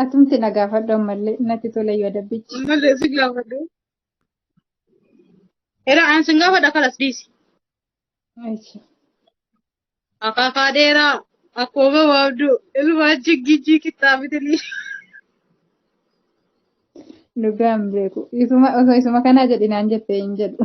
Atumti na gaafadhu ammallee natti tola yoo dabbichi. Ammallee si gaafadhu. Era an sin gaafadha kalas dhiisi. Eessi. Akaakaa dheeraa akkuma gabaabdu ilmaan jiggijii qixxaabitilii. Dhugaa hin beeku. Isuma osoo isuma kanaa jedhinaan jettee hin jedhu.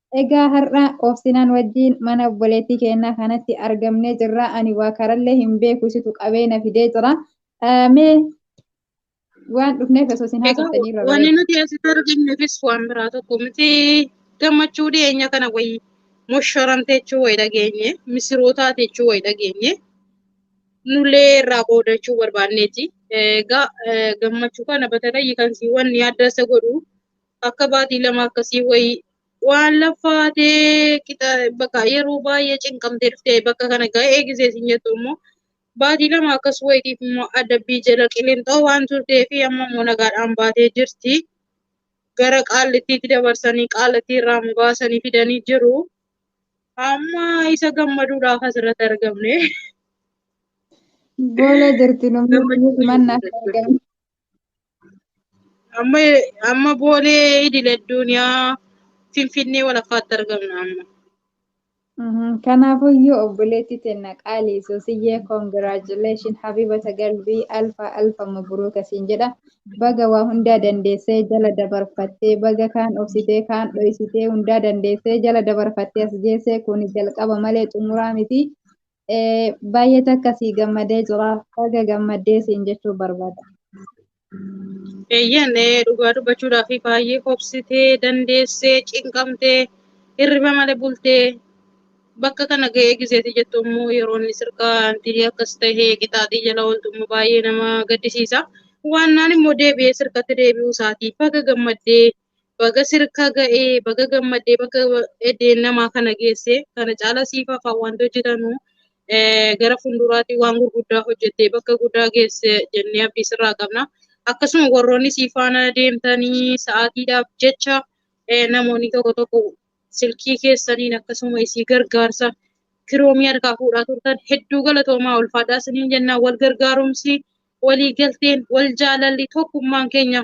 Egaa har'a Obsinaan wajjiin mana obboleettii keennaa kanatti argamnee jirra. Ani waa karallee hin beeku isitu qabee na fidee jira. Mee waan dhufneef osoo isin haasoftanii irra Wanni bareeda. nuti asitti argamnefis waan biraa tokko miti gammachuu dhiyeenya kana wayii mosharamte jechuu wayi dhageenye misirootaati jechuu wayi dhageenye nullee irraa qoodachuu barbaanneeti. Egaa gammachuu kana batatayyi kan sii wanni adda isa godhu akka baatii lama akkasii wayii waan laffaatee qixa bakka yeroo baay'ee cinqamtee dhuftee bakka kana ga'ee gisee siin jettu immoo baatii lama akkas wayitiif immoo adabbii jala qilinxoo waan turtee fi amma immoo nagaadhaan baatee jirti. Gara qaallittiitti dabarsanii qaallittii irraa mugaasanii fidanii jiru. Amma isa gammaduudhaaf asirratti argamne. Goola jirti namni Gammachuu himannaa hin argamne. Amma amma boolee idil addunyaa finfinnee walakkaatti argamna amma. Mhm. Kanaafuyyuu obboleetti tenna qaalii Suusiyyee congratulations habibata galbii alfa alfa mabruuka siin jedha. Baga waa hundaa dandeessee jala dabarfattee baga kaan obsitee kaan dhoysitee hundaa dandeessee jala dabarfattee as geessee kuni jalqaba malee xumuraa miti. Baay'ee takka sii gammadee jira. Baga gammaddee siin jechuu barbaada. Eeyyeen dhugaa dubbachuudhaaf baay'ee hobsitee dandeessee cinqamtee hirriba malee bultee bakka kana ga'ee gizeetii jettu immoo yeroon sirkaantii akkas tahee qixaaxii jala ooltu immoo baay'ee nama gaddisiisa. Waannaan immoo deebi'ee sirkatti deebi'uu isaati. Baga gammaddee Baga sirka ga'e baga gammadde baga eddeen namaa kana geesse kana caala siif hafaa wanti hojjetanu eh, gara fuulduraatti waan gurguddaa hojjettee bakka guddaa geesse jennee abdii sirraa qabna. Akkasuma warroonni sii faana deemtanii sa'aatiidhaaf jecha eh, namoonni tokko tokko silkii keessaniin akkasuma isii gargaarsa kiroomii harkaa fuudhaa turtan hedduu galatoomaa ulfaadhaa isiniin jennaa wal gargaarumsi walii galteen wal jaalalli tokkummaan keenya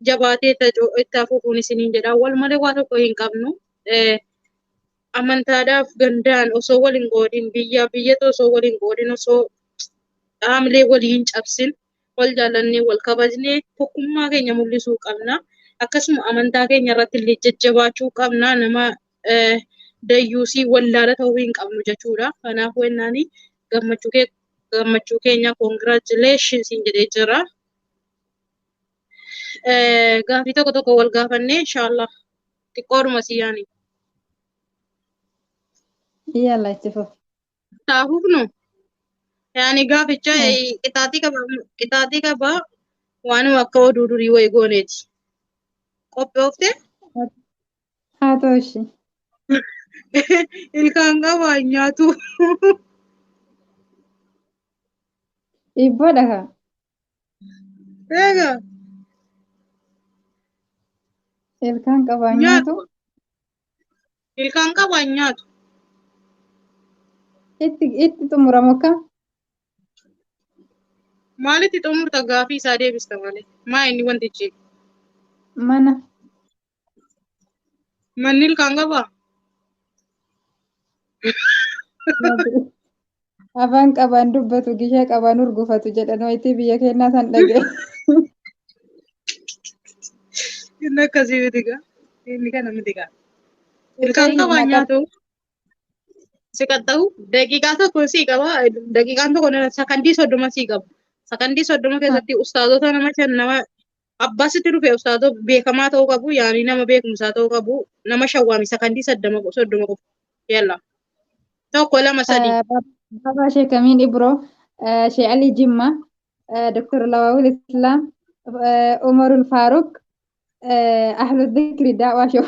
jabaatee itti hacu- itti hafuufuun isiniin jedha. Wal malee waa tokko hin qabnu. Eh, Amantaadhaaf gandaan osoo wal hin qoodin, biyyaa biyyatu osoo wal hin qoodin, osoo dhaamlee walii hin cabsin, wal jaallannee, wal kabajnee tokkummaa keenya mul'isuu qabna. Akkasuma amantaa keenya irratti illee jajjabaachuu qabna. Nama eh, dayyuusii wallaala ta'uu hin qabnu jechuudha. Kanaaf wennaan gammachuu kee gammachuu keenya congratulations jedhee jira. Eh, Gaaffii tokko tokko wal gaafannee inshaallah xiqqoodhuma si yaani. Yalla itti fufi. Taa'uuf nu yaani gaaficha Eh. eh, qixaaxii qaba qixaaxii qaba waanuma akka oduu durii wayi gooneeti. Qophoofte Haa ta'u ishii. ilkaan qaba hin nyaatu. Dhiibboodha kaa. Eega. Ilkaan qabaa nyaatu. Nyaatu. Ilkaan qabu an nyaatu. Itti itti xumuramu akka Maalitti xumurta gaafii isaa deebista malee. Maa inni wantichi. mana Manni ilkaan qabaa? Afaan qabaan dubbatu gishee qabaan urgufatu jedhan wayitii biyya keenyaa san dhaga'e. Inni akkasii miti gaa. Inni kana miti gaa. Ilkaan qabaa nyaatu. Si qaxxahu daqiiqaa tokko sii qaba. Daqiiqaan tokko sakandii soddoma sii qaba. Sakandii soddoma keessatti ustaazota nama shan nama Abbaa sitti dhufe ustaazoo beekamaa ta'uu qabu yaani nama beekumsaa ta'uu qabu nama shawwaami sakandii saddama soddoma qofa yalla tokko lama sadii Baba Sheikh Amin Ibro, eh, Sheikh Ali Jimma, eh, Dr. Lawawul Islam, eh, Umarul Faruk, eh, Ahlu Dhikri Da'wa Show.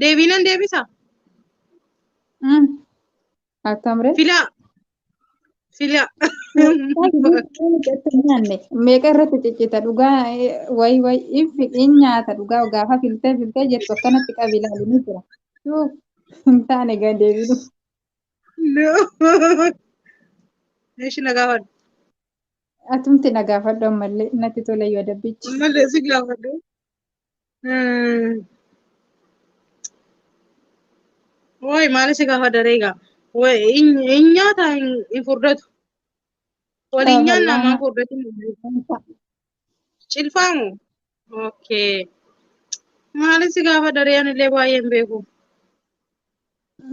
Deebiinan deebisa. Mm. Akkam ree? Filaa. Filaa. Meeqa irratti ciccita dhugaa wayi wayi if in nyaata dhugaa gaafa filtee filtee jettu akkanatti qabi ilaalu ni jira. Tuu hin taane gad deebiidhu. Eeshi na gaafadhu. Atumti na gaafadhu ammallee natti tola yoo dabbichi. Malee si gaafadhu. Wooyi maali si gaafa daree gaa. Wooyi hin nyaata hin furdatu. Waliin nyaanna maa furdatu. Cilfaa moo? Okay. Maali si gaafa daree anillee baay'ee hin beeku.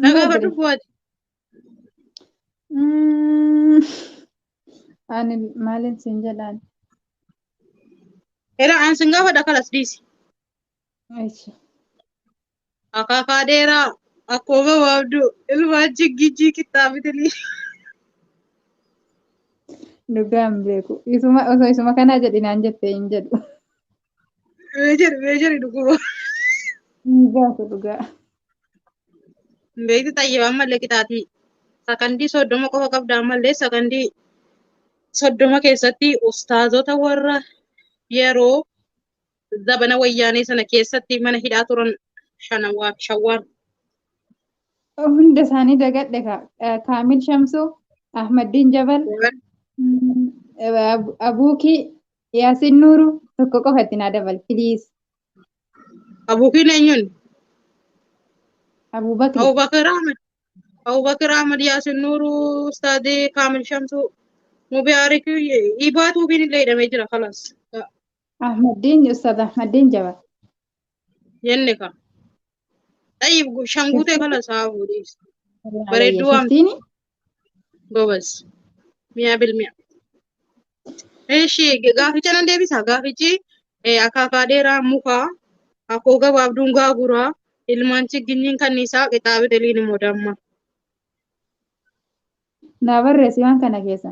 Na gaafadhu bu'aati. Mm, Ani maalin siin jedhaan? Era an sin gaafadha kalas dhiisi. Ishi. Akaakaa dheeraa akkoo gabaabduu ilmaa jiggijjii qixxaabitilii. Dhugaa hin beeku. Isuma osoo isuma kanaa jedhi naan jette hin jedhu. Meejeri meejeri dhukkuba. Hin baatu dhugaa. Beekti xayyiba ammallee qixaatii. Sakandii soddoma qofa qabda ammallee sakandii soddoma keessatti ustaazota warra yeroo zabana wayyaanee sana keessatti mana hidhaa turan shanawaa fi shawwaan. Hunda isaanii dagadhe kaa. Eh, Kaamil Shamsuu, Ahmaddiin Jabal, mm, Ab- Abuukii, Yaasin Nuuru tokko qofa itti naa dabal please. Abuukiin eenyuun? Abubakri. Abubakar Ahmad. Abubakar Ahmad Yaasin Nuuruu Ustaadii Kaamil Shamsuu. Mubaarik Ibaa Tuubiin illee hidhamee jira kalaas. Ahmaddiin Ustaaz Ahmaddiin jaba. jenne ka xayyib gu- shan guutee kala isaa fuudhiis bareedduu waan Fiftiini gobas miyaa bil miyaa eshi gaaficha nan deebisa gaafichi eh, akaakaa dheeraa mukaa akkoo gabaabduun gaaguraa ilmaan chigginyiin kanniisaa qixaabi deliin immoo damma naa barreessi waan kana keessa.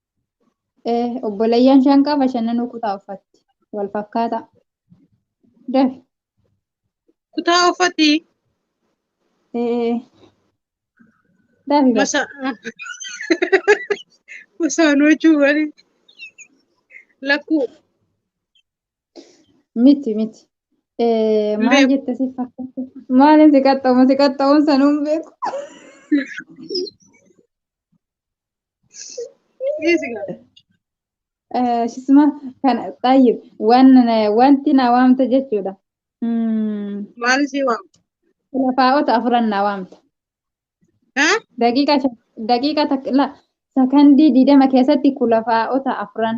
Eh, obboleeyyan shan qaba shananuu kutaa uffatti. Wal fakkaata. Dafi. Kutaa uffati Eh, dafi bas. masa masaan hojii wali lakkuu Miti miti. Eh, maal Beeku. jette si fakkaata? Maaliin si qaxxamu si qaxxamuun sanuu hin beeku. Shisma kan xayyib wanti na waamta jechuudha. Maal ishee waamta? Lafaa'ota afuran na waamta. Daqiiqa takka sakandii digdama keessatti kulafaa'ota afuran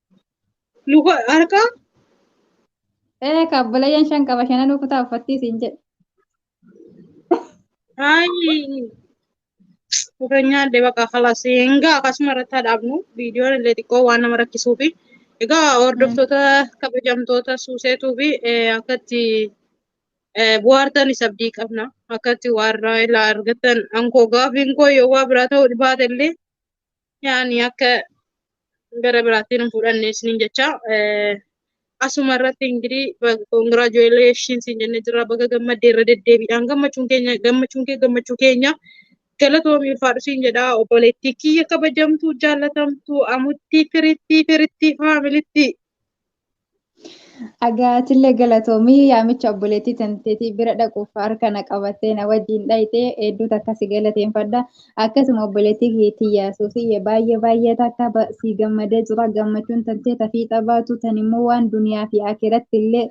Luka harkaa Ee ka obboleeyyan shan qaba shananuu kutaa uffattii siin jedhe. ayi luka nyaadde baqa kalas egaa akkasuma irratti haa dhaabnu viidiyoon illee xiqqoo waan nama rakkisuu fi egaa hordoftoota kabajamtoota suuseetuu fi akkatti bu'aartan isa abdii qabna akkatti waarraa ilaa argattan ankoo gaafiin koo yoo waa biraa ta'uu dhibaate illee yaani akka gara biraatti hin fudhanne isiniin jecha asuma irratti ingirii congratulations siin jenne jirra baga gammadde irra deddeebiidhaan gammachuun keenya gammachuun kee gammachuu keenya galatoomi ulfaadhu siin jedha obboleettii kiyya kabajamtuu jaallatamtuu amuttii firittii firittii faamilittii Agaatillee galatoomii yaamicha obboleettii tanteetii bira dhaquuf harka na qabattee na wajjin dhayxee hedduu takka si galateeffadha. Akkasuma obboleettii keetii yaasuusii baay'ee baay'ee takka ba- si gammadee jira gammachuun tantee tafii xabaatu tan immoo waan duniyaa fi akiratti illee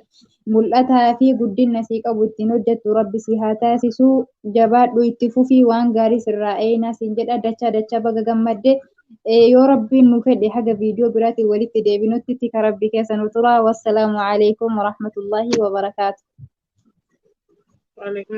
mul'ataa fi guddinna sii qabu ittiin hojjettu rabbi si haa taasisuu jabaadhu itti fufii waan gaarii sirraa eeynaa siin jedha dachaa dachaa baga gammadde yoo rabbiin nu fedhe haga viidiyoo biraatiin walitti deebinutti tika rabbi keessa nu tura wassalaamu alaikum warahmatullaahi wabarakaatu Waalaikum